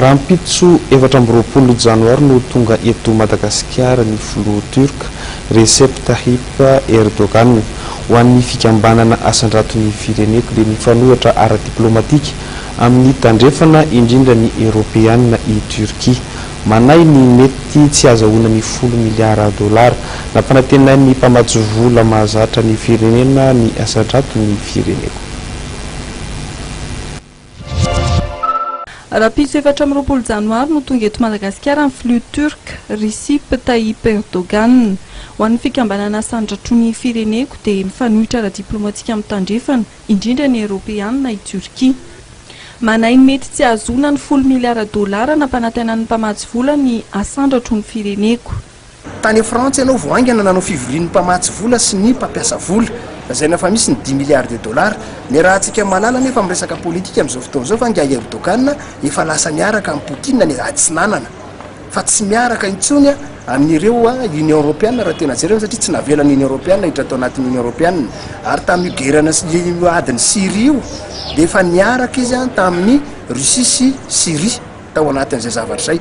Rahampitso efatra amby roapolo janoary no ho tonga eto Madagasikara ny filoha Turque, Recep Tayyip Erdogan. Ho an'ny fikambanana Asandrato ny fireneko dia mifanohitra ara-diplaomatika amin'ny Tandrefana, indrindra ny Eoropeana i Turquie. Manahy ny mety tsy hazahoana ny folo miliara dolara nampanantenain'ny mpamatsy vola mahazatra ny firenena ny Asandrato ny fireneko. Rahampitso efatra amby roapolo janoary no tonga eto Madagasikara ny filoha Turc Recep Tayyip Erdogan. Ho an'ny fikambanana Asandratro ny fireneko dia mifanohitra ara-diplaomatika amin'ny Tandrefana, indrindra ny Eoropeanina i Turkia. Manahy ny mety tsy hahazoana ny folo miliara dolara nampanantenan'ny mpamatsy vola ny Asandratro ny fireneko. Tany Frantsa ianao vao haingana nanao fivorian'ny mpamatsy vola sy ny mpampiasa vola. Lazaina fa misy ny dix milliards de dollars. Niarahantsika malala anefa amin'ny resaka politika amin'izao fotoana izao fa angaha i Erdogan efa lasa niaraka amin'i Poutine ny atsinanana fa tsy miaraka intsony amin'ireo Union Europeana raha tena jerena satria tsy navelan'ny Union Europeana hiditra tao anatin'ny Union Europeana ary tamin'io guerre-na io adin'i Syrie io dia efa niaraka izy tamin'i Russie sy Syrie. tao anatin'izay zavatra izay,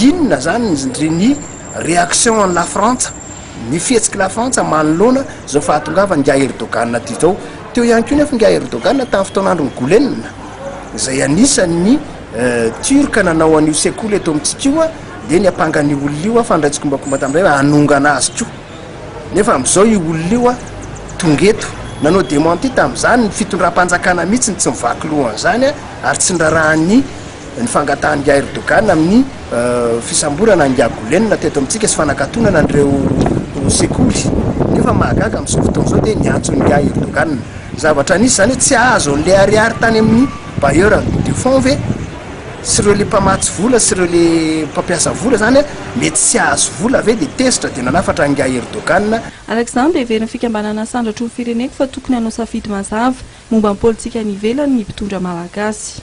inona izany ndry ny réaction an'i Lafrantsa, ny fihetsik'i Lafrantsa manoloana izao fahatongavan'ingahy Erdogan aty izao. Teo ihany koa nefa ingahy Erdogan tamin'ny fotoan'andron'i Gulen, izay anisan'ny Turc nanao an'io sekoly eto amintsika io, dia niampanga an'io olona io fa nandray tsikombakomba tamin'izay hoe hanongana azy koa. Nefa amin'izao io olona io tonga eto, nanao démenti tamin'izany ny fitondram-panjakana mihitsy no tsy nivaky loha an'izany ary tsy niraharahan'ny. ny fangatahan'i Airdogan amin'ny fisamborana an'i Yagulen teto amintsika sy fanakatonana an'ireo sekoly nefa mahagaga amin'izao fotoana izao dia ny antson'i Airdogan zavatra nisy izany hoe tsy azo an'ilay ariary tany amin'ny bailleur de fonds ve sy ireo le mpamatsy vola sy ireo le mpampiasa vola izany hoe mety tsy azo vola ve dia tezitra dia nanafatra an'i Airdogan Araka izany dia heverin'ny fikambanana Sandratro ny fireneko fa tokony hanao safidy mazava. Momba ny politika any ivelany ny mpitondra malagasy.